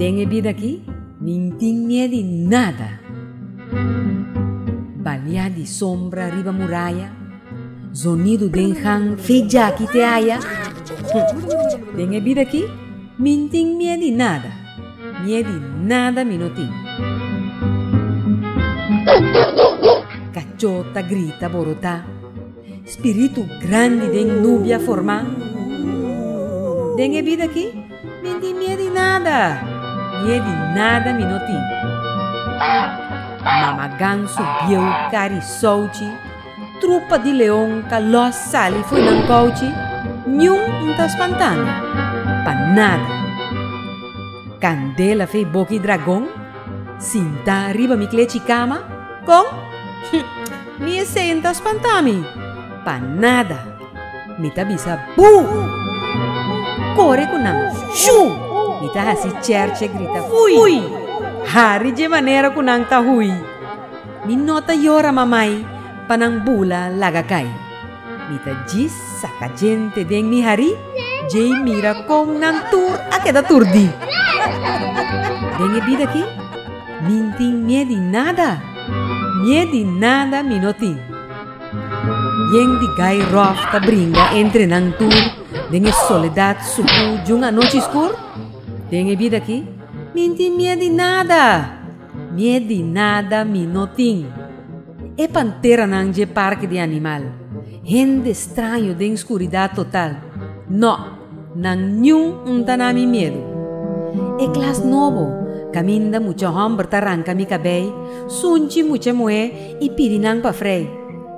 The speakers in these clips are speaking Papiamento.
Den e bida aki nin tin mie di nada. Baliá di sombra riba muraya, zonidu den han fe djaki te haya. Den e bida aki nin tin mie di nada. Mie di nada mi no tin. Kachó ta grita borotá. Spiritu grandi den nubi a formá. Den e bida akí mi tin mie di nada. Mie di nada mi no tin. Mama gansu bieu kari souchi Trupa di leon ta lòs sali fo'i nan kouchi, niun un ta spantan, pa nada. Kandela fei boka e dragon sintá riba mi klechi kama, kon? Ni esei un ta spantá mi, pa nada. Mi ta bisa bú! Kore ku nan, shú! Mi ta hasi Cherche grita hui! Hari dje manera ku nan ta hui. Mi no ta yora mamai pa nan bula laga cai. Mi ta djis saca djente den mi harí, djei mira con nan tur a keda turdí. Den e bida aki, min tin mié di nada, mié di nada mi no tin. Yen di gai rof ta bringa entre nan tur den e soledad sucú djun anochi scur. Den e bida aki, min tin mié di nada. Mié di nada mi no tin. E panteranan dje parke di animal. Hende straño den skuridat total. No, nan niun un ta na mi miedu. E klas nobo, kaminda mucha hòmber ta ranka mi kabei, sunchi mucha muhé i pidi nan pa frei.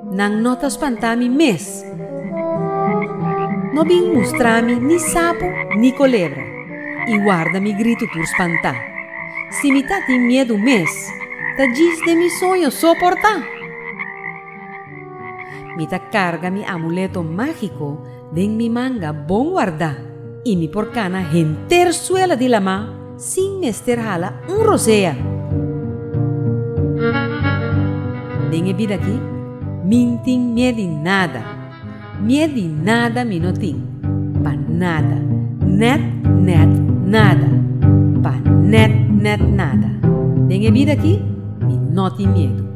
Nan no ta spantá mi mes. No bin mustra mi ni sapu ni kolebra, i warda mi gritu tur spantá. Si mi ta tin miedu mes, ta djis den mi soño soportá! Mi ta karga mi amuleto mágiko. Den mi manga bon wardá. I mi por kana henter suela di lamá sin mester hala un rosea. Den e bida akí mi N tin mié di nada. Mié di nada mi no tin. Pa nada. Nèt nèt nada. Pa nèt nèt nada. Den e bida akí mi no tin miedu.